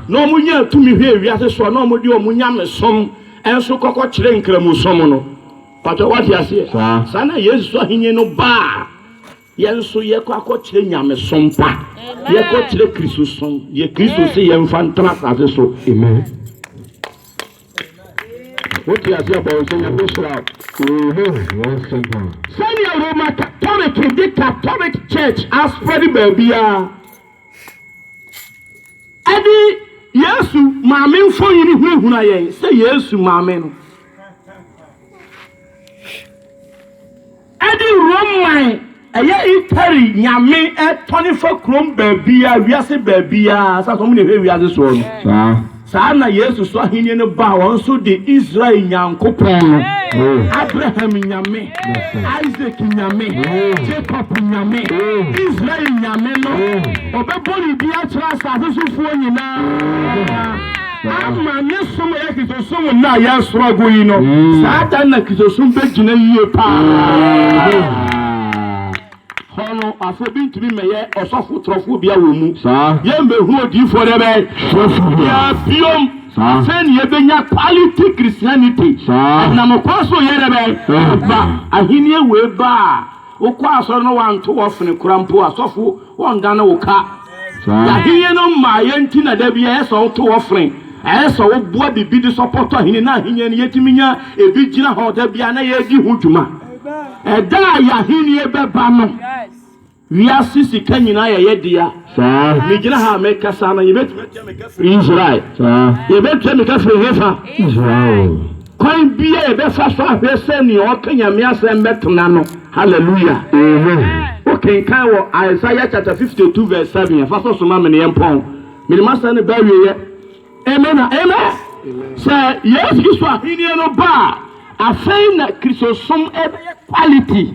Na wɔn nya tumi hwɛ wiase so a na wɔn de wɔn nyamesom nso kɔkɔ kyerɛ nkramosom no. Pàtó wate aseɛ? Saa na Yesu so ahenni no baa. Yɛn nso yɛkɔ akɔkyerɛ nyamesom pa. Yɛkɔkyerɛ Kristosom, deɛ Kristo se yɛmfa ntena asase so. Amen. Wote ase abɔn sɛ nyame nhyira wo. Amen. W'asɛm paa. Sɛnea Roma Katolek de Katolek Church aspread baabiara ɛde Yesu maame mfonini hunahuna yɛn sɛ Yesu maame no. Ɛde Rome man, ɛyɛ Italy nyame, tɔne fa kurom baabiara, wiase baabiara, sɛ wɔn na ɛhwɛ wiase soɔ no. Saa ara na Yesu so ahennie no baa wɔn so de Israel Nyankopɔn no, Abraham Nyame, Isaac Nyame, Jacob Nyame, Israel Nyame no, ɔbɛbɔ ne din akyerɛ asase sofoɔ nyinaa. Ama ne som a ɛyɛ Kristosom nna a yɛresoro agu yi no, saa da no na Kristosom bɛgyina yie paa. Hɔ no, afei bi ntumi mmɛyɛ ɔsɔfo torofoɔ biara wɔ mu. Yɛmmɛhu odiyifoɔ dɛ bɛn twerɛfoɔ biara biom. Afei na yɛbɛnya quality Christianity. Ɛnam ɔkwan so yɛ dɛ bɛn ba ahennie wei ba a. Wokɔ asɔre na wɔanto wo ɔfene koraa mpo a, sɔfo wɔndane wo ka. Y'ahenni no mmaeɛ nti na da bi ɛyɛ sɛ woto wo ɔfene, ɛyɛ sɛ woboa biribi de sɔpɔto ahenni no. Ahenni no, yɛtumi nya ebi gyina hɔ da biara na yɛredi ho dwuma. Ɛda a y'ahenni bɛba no, wiase sika nyinaa yɛ yɛ dea. Megyina ha a mekasa no, yɛbɛtumi atua me ka firi Israel. Yɛbɛtua me ka firi hefa? Israel. Kwan bi a yɛbɛfa so ahwɛ sɛ nea ɔka Nyame asɛm bɛtena no. Hallelujah! Wo kenkan wɔ Isaiah chapter 52 verse 7 a, fa sɛ soma me na yɛmpɔn. Mede m'asɛm no ba awieɛ. Amen na amen. Sɛ Yesu Kristo ahennie no ba a, afei na Kristosom ɛbɛyɛ quality.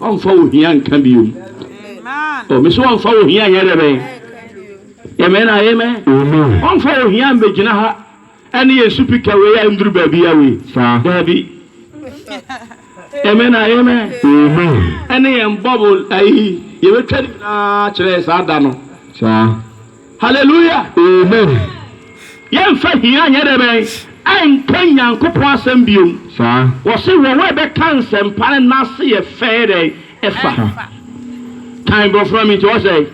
Ɔmfa wo hia nka biom. Oh, me so ɔmfa wo hia nyɛ dɛ bɛn. Amen, amen. Ɔmfa wo hia mbɛgyina ha ɛne yɛn supika wei a ɛmduru baabi a wei. Daabi. Amen, amen. Ɛne yɛn bɔbol ayi yɛbɛtwa ne nyinaa kyerɛ saa da no. Saa. Hallelujah! Amen! Yɛnfa hia nyɛ dɛ bɛn? Ɛnka Nyankopɔn asɛm biom. Saa. Wɔse wɔn a ɛbɛka nsɛmpa no nase yɛ fɛ yɛ dɛn? Ɛfa. Ɛfa. Kan brɔfo ma me nti ɔsɛ.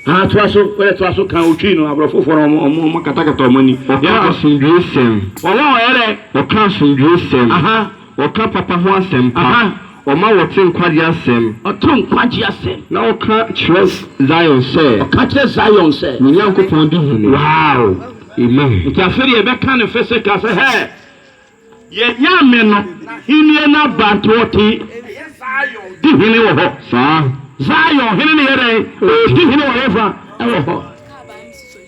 Haa toa so wode toa so kan otwi no abrɔfo fo no ɔmo ɔmo katakata ɔmo ani. Ɔka asomdwie sɛm. Wɔn a wɔyɛ dɛn? Ɔka asomdwie sɛm. Aha. Wɔka papa ho asɛm pa. Wɔma wɔte nkwagye asɛm. Wɔte nkwagye asɛm. Na wɔka kyerɛ Zion sɛ. Wɔka kyerɛ Zion sɛ. Wo Nyankopɔn di hene. Wow! Amen! Nti afei deɛ yɛbɛka no physical sɛ, Hɛ! Yɛn Nyame no Ahennie no aba nti ɔte, ɛyɛ Zion, di hene wɔ hɔ. Saa. Zion hene no yɛ dɛn? Ɔredi hene wɔ hefa? Ɛwɔ hɔ.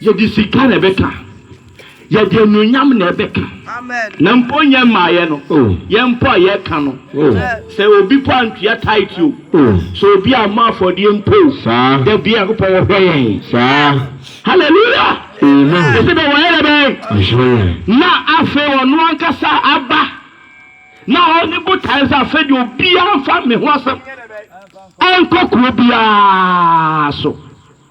Yɛde sika na ɛbɛka, yɛde anuonyam na ɛbɛka, na mpo nyɛ mmaeɛ no, yɛn mpo a yɛka no, sɛ obi mpo antua tithe o, sɛ obi ammɔ afɔdeɛ mpo o, da biara Nyankopɔn ɔhwɛ yɛn. Hallelujah! Ɛsɛ dɛ wɔyɛ dɛ bɛn? Na afei ɔno ankasa aba na ɔne botaeɛ sɛ afei deɛ obiara mfa me ho asɛm ɛnkɔ kuro biara so.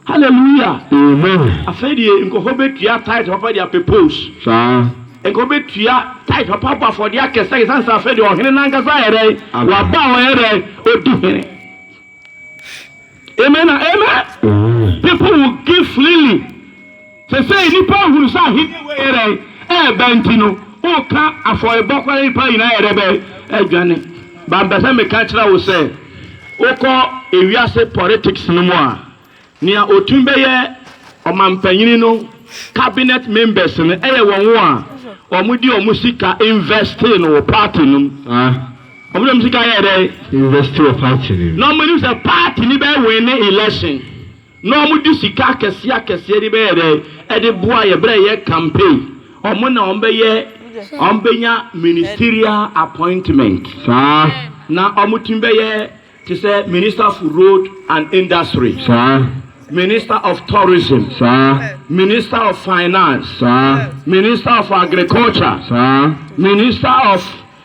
Hallelujah! Amen. Afei deɛ nkurɔfoɔ bɛtua tithe papa de apɛ post. Saa. Nkurɔfoɔ bɛtua tithe papa abɔ afɔdeɛ akɛseɛ akɛseɛ ansa afei deɛ ɔhene no ankasa ayɛ dɛn? Aba. Waba a ɔyɛ dɛn? Ɔdi hene. Amen na amen. Amen. People will give freely. Sesei nnipa ahunu sɛ ahenni wei yɛ dɛn ɛɛba nti no woka afɔrebɔ kɔ na nnipa nyinaa yɛ dɛn bɛn adwane. But mpɛ sɛ meka kyerɛ wo sɛ wokɔ ewiase politics no mu a nea otumi bɛyɛ ɔmampanyini no cabinet members no ɛyɛ wɔn a wɔn de wɔn sika investee no wɔ party no mu. Wɔn de wɔn sika yɛɛ dɛn? Investee wɔ party no mu. Na wɔn nim sɛ party no bɛ winne election. Na ɔmo de sika akɛseɛ akɛseɛ de bɛyɛ dɛn? Ɛde boa yɛ berɛ a yɛ campaign. Ɔmo na ɔmo bɛyɛ, ɔmo bɛnya ministerial appointment saa. Na ɔmo tumi bɛyɛ te sɛ minister for road and industry saa, minister of tourism saa, minister of finance saa, minister of agriculture saa, minister of.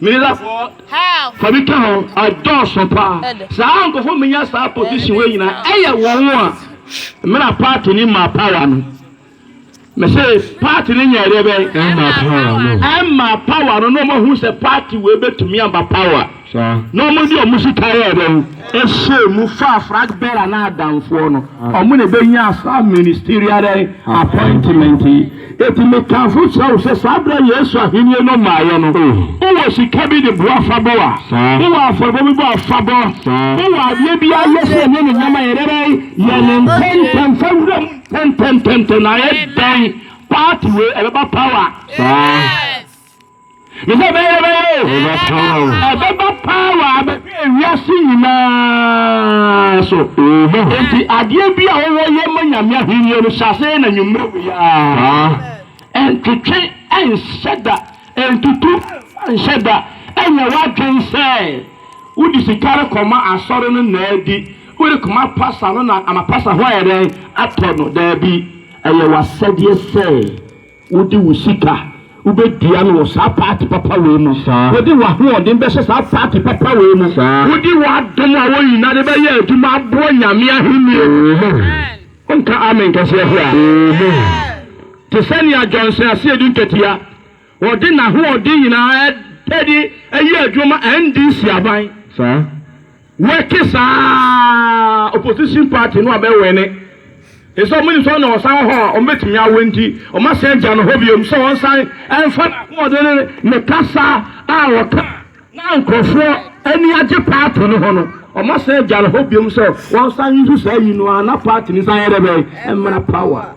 Mirafoɔ fa bi ka ho adɔɔso paa saa nkɔfoɔ menya saa position wei nyina ɛyɛ wɔn a mena party ni ma power no mese party no nyɛ ɛdeɛ bɛn ɛma power no ɛma power no na ɔmo hu sɛ party wei bɛtumi amba power na ɔmo de ɔmo sika yɛ ɛdɛn ɛhyɛ mu fa flag bearer na adamfoɔ no ɔmo na ɛbɛnya saa ministerial appointment yi. Enti mekamfo kyerɛ wo sɛ saa berɛ a Yesu Ahennie no mmaeɛ no, wowɔ sika bi de boa fa bɔ a, wowɔ afɔrebɔ bi bɔ a, fa bɔ. Wowɔ adeɛ bi ara yɛ sɛ ɛnyɛ ne nneɛma yɛ dɛn? Yɛ no ntɛmntɛm, fa wura mu ntɛmntɛmntɛmntɛm. Na ayɛ dɛn? Party wei, ɛbɛba power. Me sɛ bɛyɛ na bɛyɛ o. Ɛbɛba paa o. Ɛbɛba paa wɔ abɛhwɛ wiase nyinaa so. Amen. Enti adeɛ bi a wɔwɔ yɛ ma Nyame ahennie no hyɛ aseɛ na nwummere wei ara. Ɛntwetwe ɛnhyɛ da, ɛntutu ɛmfa nhyɛ da, ɛnyɛ w'adwene sɛ wode sika rekɔma asɔre no na adi, worekɔma pasa no na ama pasa ho ayɛ dɛn? Atɔ no. Daabi, ɛyɛ w'asɛdeɛ sɛ. Wode wo sika wobɛdua no wɔ saa paati papa wei mu. Wode w'ahoɔden bɛhyɛ saa paati papa wei mu. Wode w'adom a woyina de bɛyɛ adwuma aboa Nyame ahennie no. Wonka amen kɛseɛ hwɛ a. Te sɛ nea Johnson Asiedu Nketia, ɔde n'ahoɔden nyinaa de ayɛ adwuma ma NDC aban. Wɛke saa opposition party no a bɛ wɛne efisɛ ɔmo nim sɛ ɔno na ɔsan wɔ hɔ a ɔmo bɛtumi awɛn nti ɔmo asan agya no hɔ biom sɛ ɔnsan ɛnfa n'ahoɔden ne ne kasa a ɔka na nkorɔfoɔ ani agye party no ho no ɔmo asan agya no hɔ biom sɛ ɔnsan nso saa yi no a na party no san yɛ dɛ bɛn mmra power.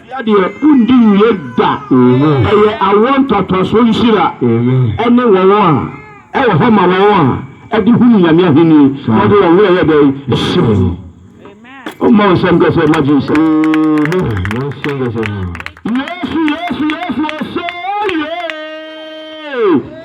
Hyia deɛ wondi nwie da. Ɛyɛ awoɔ ntɔtɔsoɔ nhyira ne wɔn a ɛwɔ hɔ ma wɔn a ɛde hunu Nyame ahenni na wɔde wɔn werɛ yɛ dɛn? Hyɛ wɔn mu. Momma wo nsɛm kɛsɛ mma Jesus. Yesu Yesu Yesu ose yee.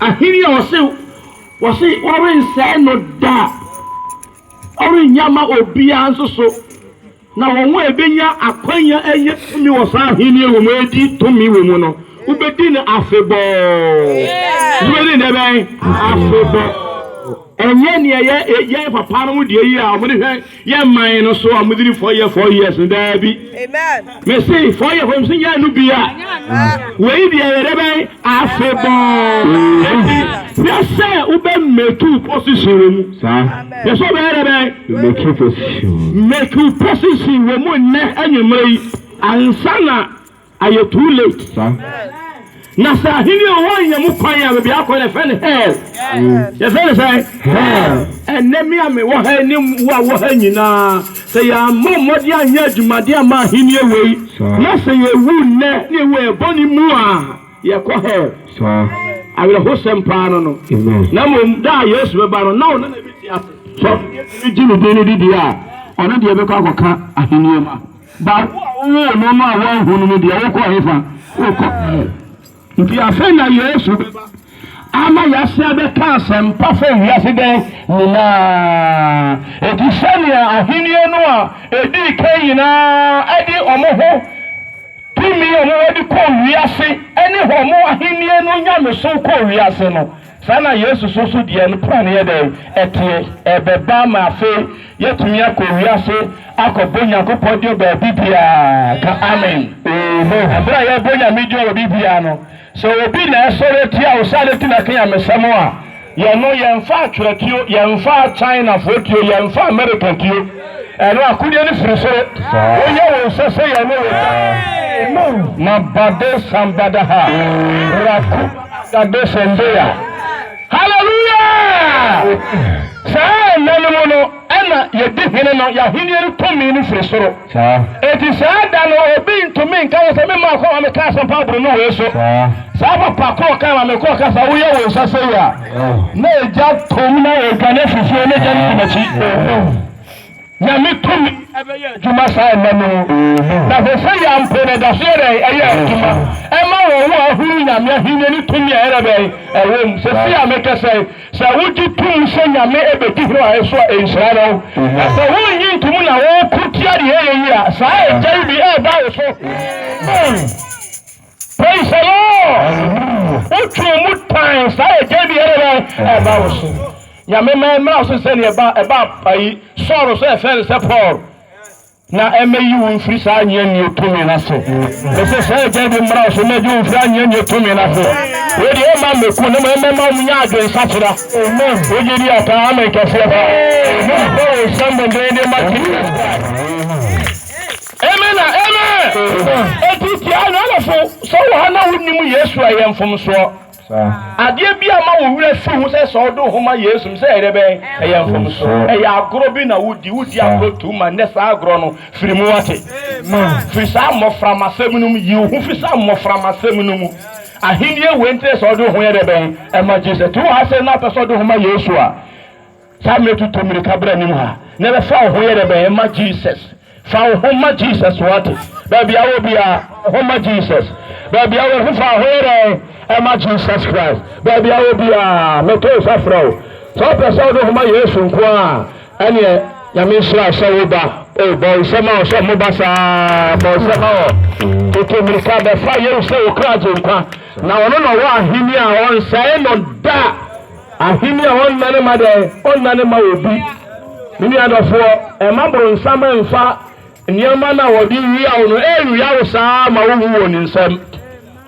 Ahenni a ɔse ɔse ɔrensɛe no da a ɔrennya mma obiara nso so, na wɔn a ebenya akwanya anya tumi wɔ saa ahenni yi mu adi tumi wɔ mu no, wobedi no afebɔɔ. Wobedi no dɛbɛn? Afebɔɔ. Ɛnyɛ nea yɛ yɛn papanom deɛ yi a wɔde hwɛ yɛn man no so a wɔde ni four year four years no daabi. Mese four year four years nyɛ no bi a wei deɛ yɛde bɛn afebɔɔ eti hwɛ sɛ wobɛ make position wɔ mu. Hwɛ sɛ wobɛyɛ dɛ bɛn make position make position wɔ mu nnɛ anwummerɛ yi ansa na Ayɛ too late saa. Na sɛ ahenni a ɔwɔ anya mu kwan a baabi akɔ na ɛfɛ no hell. Yɛfɛ no sɛ hell. Ɛnnɛ me a me wɔ ha yi ne wo a wɔ ha nyinaa sɛ yɛammɔ mmɔden anyɛ adwumaden amma ahenni wei na sɛ yɛwu nnɛ na yɛwu yɛ bɔne mu a yɛkɔ hell. Awerɛhosɛm paa no no. Na mmom da a Yesu bɛba no na ɔno na ɛbɛti ase. Sɛ ɔno deɛ tumi gye ne din no di deɛ a ɔno deɛ bɛkɔ akɔka ahenni ma. Baako a wowoo no no a woanhu no no deɛ, wokɔ hefa? Wokɔ hell. Nti afei na Yesu bɛba ama yɛasan abɛka asɛmpa fa wiase dɛn nyinaa. Enti sɛnea ahenni no a edii kan nyinaa de wɔn ho tumi a wɔwɔ de kɔɔ wiase ne wɔn ahenni no nyamesom kɔɔ wiase no, Saa na Yesu nso so deɛ ne plan yɛ dɛn? Ɛteɛ. Ɛbɛba ma afei yɛatumi akɔ wiase akɔbɔ Nyankopɔn din wɔ baabi biara. Ka Amen. Amen. Ɛberɛ a yɛrebɔ Nyame din wɔ baabi biara no, sɛ obi na ɛsɔre atia wo sɛ adɛn nti na ɛka Nyamesɛm a, yɛno yɛmfa atwerɛtuo, yɛmfa Chinafoɔ tuo, yɛmfa Amerika tuo. Ɛno akodeɛ no firi soro. Woyɛ wo nsa sɛ yɛn ne wo da. Mu ma bade sambada ha. Raku agade sondeya. Hallelujah! Saa nna no mu no, ɛna yɛdi hene no, yɛn ahennie no tumi no firi soro. Enti saa da no, obi ntumi nka yɛn sɛ, me mmaa kɔ ma meka asɛmpa aboro no wei so. Saa papa korɔ kaa ma me korɔ ka saa, woyɛ wo nsa sɛ yi a. Na egya tɔ mu na yɛredwane afiri fie na egya no di m'akyi. Nyame tumi ɛbɛyɛ adwuma saa ɛnɛ no. Na hwɛ sɛ yɛ mpo na ɛda so yɛ dɛn ɛyɛ adwuma ɛma wɔn wo ahunu Nyame ahennie ne tumi a ɛyɛ dɛn ɛwɔ mu. Sɛsei a mekɛsɛ yi, sɛ wogye to mu sɛ Nyame ɛbɛdi hene ɔhene so a, ɛnhyira ne ho. Na sɛ wonnye nto mu na woko tia deɛ ɛyɛ yie a, saa egya yi bi ɛreba wo so. Praise the Lord! Wotwe ɔmo tan saa yɛ gya biara bɛn ɛba wo so. Nyame ma ɛmmra wo so te sɛ nea ɛba ɛba ayi Saul so a ɛfrɛ no sɛ Paul. Na ɛmmɛyi wo mfiri saa anyeanyeɛ tumi no ase. Mese saa yɛ gya bi mmra wo so na ɛgye wo mfiri anyeanyeɛ tumi no ase. Wei deɛ ɛmma mmɛku na mmom ɛmmɛma wɔn nyɛ adwensakyera. Wogye di a ka amen kɛseɛ paa. Mobɔ wo nsam dendeenden ma Jesus Christ. Amen na Amen! Amen. Enti tie ananafo, sɛ wowɔ ha na wunnim Yesu a, ɛyɛ mfomsoɔ. Saa. Adeɛ bi a ma wo werɛ fi ho sɛ sɛ wode wo ho ma Yesu no, sɛ ɛyɛ dɛ bɛn? Ɛyɛ mfomsoɔ. Mfomsoɔ. Ɛyɛ agorɔ bi na wodi, wodi Saa. agorɔ too much, nnɛ saa agorɔ no, firi mu, woate? Amen. Firi saa mmɔframmasɛm no mu, yi wo ho firi saa mmɔframmasɛm no mu. Ahennie wei nti na ɛsɛ sɛ wode wo ho yɛ dɛ bɛn? Ɛma Jesus. Nti wowɔ ha sɛ na wopɛ sɛ wode wo ho ma Yesu a, Saa mmerɛ tutu mmirika bra anim ha na ɛbɛfa wo ho yɛ dɛ bɛn ɛma Jesus fa wo ho ma Jesus wate baabi a wɔ biara fa wo ho ma Jesus baabi a wɔ ho fa wo ho yɛ dɛ ɛma Jesus Christ baabi a wɔ biara mɛtɔ nsa frɛ wo sɛ wopɛ sɛ wode ho ma Yesu nko a ɛneɛ nyame nhyira sɛ wo ba o bɔ nsɛm a ɔsɛ mo ba saa bɔ nsɛm a wɔ tutu mmirika bɛfa Yesu sɛ wo kra gye nkwa na ɔno na ɔwɔ ahenni a ɔnsɛe no da Ahenni a ɔnna no mma dɛn? Ɔnna no mma obi. Me nua dɔfoɔ, mma bronsam mfa nneɛma no a wɔde wia wo no ɛnwia wo saa ara ma wonwu wɔ ne nsam.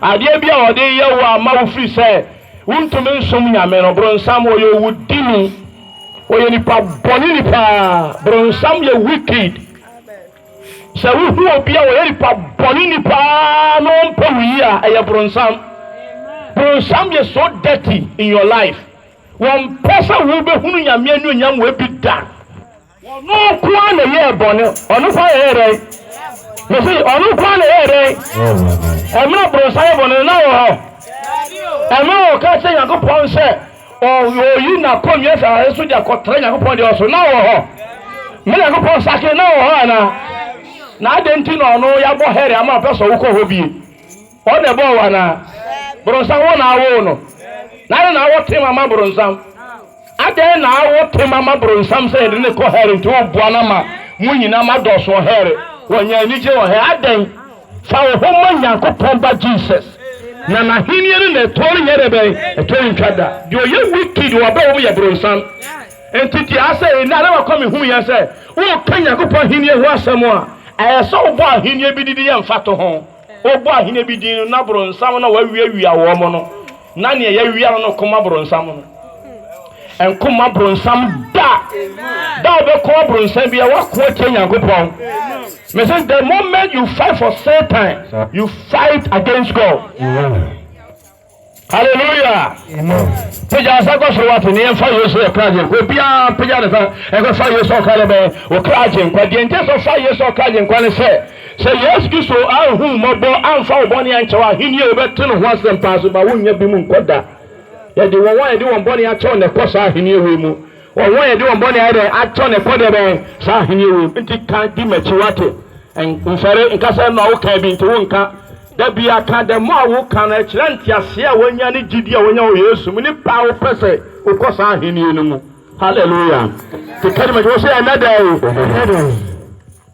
Adeɛ bi a wɔde reyɛ wo a ama wo firi sɛ wontumi nsom Nyame no, bronsam ɔyɛ owudini. Ɔyɛ nipa bɔne ni paa. Bronsam yɛ wicked. Sɛ wohu obi a ɔyɛ nipa bɔneni paa na ɔmpɛ wo yie a, ɛyɛ bronsam. Bronsam yɛ so dirty in your life. Wɔmpɛ sɛ wobɛhunu Nyame anuonyam wɔ bi da. Ɔno nko ara na ɛyɛɛ bɔne. Ɔno nko ara na ɛyɛɛ dɛn? Mese, ɔno nko ara na ɛyɛɛ dɛn? Ɛmmerɛ bronsam yɛ bɔne no, na ɔwɔ hɔ? Ɛmmerɛ ɔka kyerɛ Nyankopɔn sɛ, Oyi n'akonnwa fi asase so de akɔtra Nyankopɔn deɛ ɔso. Na ɔwɔ hɔ. Mo Nyankopɔn sakere na ɔwɔ hɔ anaa? Na adɛn nti na ɔno yɛabɔ hɛre ama ɔpɛ sɛ wokɔ hɔ bie? Ɔno na ɛbɔɔ wo anaa? Boronsam wo na awoo no. Na adɛn na awɔ tema ma boronsam? Adɛn na awɔ tema ma boronsam sɛ yɛde ne kɔ hɛre nti woboa no ama mo nyinaa ma dɔɔso wɔ hɛre? Wɔnya anigye wɔ hɛre adɛn? Fa wo ho ma Nyankopɔn Ba Jesus, na N'Ahenni no na ɛtoɔ renyɛ dɛ bɛn? Ɛtoɔ rentwa da. Deɛ ɔyɛ wicked wɔ abrabɔ mu yɛ bronsam. Enti te ase nnɛ, adeɛ baako a mehunu yɛ sɛ, woreka Nyankopɔn Ahenni ho asɛm a, ɛyɛ sɛ wobɔ ahenni bi didi yɛ mfatoho. Wobɔ ahenni bi din no, na bronsam na wawiawia wɔn no. Na nea yɛawia no no ɔko ma boronsam no. Ɛnko mma boronsam da. Da a wobɛko aboronsam bia woako atia Nyankopɔn. Mese the moment you fight for Satan, you fight against God. Hallelujah. Pagya nsa kɔ soro wate ne yɛmfa Yesu yɛ kra gyenkwa. Obiara pagya ne nsa ɛkɔfa Yesu ɔkra ne bɛn ɔkra gyenkwa. Deɛ nti sɛ ɔfa Yesu ɔkra gyenkwa ne sɛ Sɛ Yesu Kristo anhu wo mmɔbɔ amfa wo bɔne ankyɛ wo a, ahenni a wobɛte no ho asɛm paa so ma wonnya bi mu nkɔ da. Yɛde wɔn a yɛde wɔn bɔne akyɛ wɔn na ɛkɔ saa ahenni wei mu. Wɔn a yɛde wɔn bɔne ayɛ dɛn akyɛ wɔn na ɛkɔ deɛ bɛn saa ahenni wei mu. Nti ka di m'akyi wate. Nsɔre nka sɛ ɛno a woka bi nti wonka. Da biara ka dɛm a woka no kyerɛ nteaseɛ a woanya ne gyidie a woanya wɔ Yesu mu ne pɛ a wopɛ sɛ wokɔ saa ahenni no mu. Hallelujah. Nti ka di m'akyi wo sɛ ɛnnɛ da yi.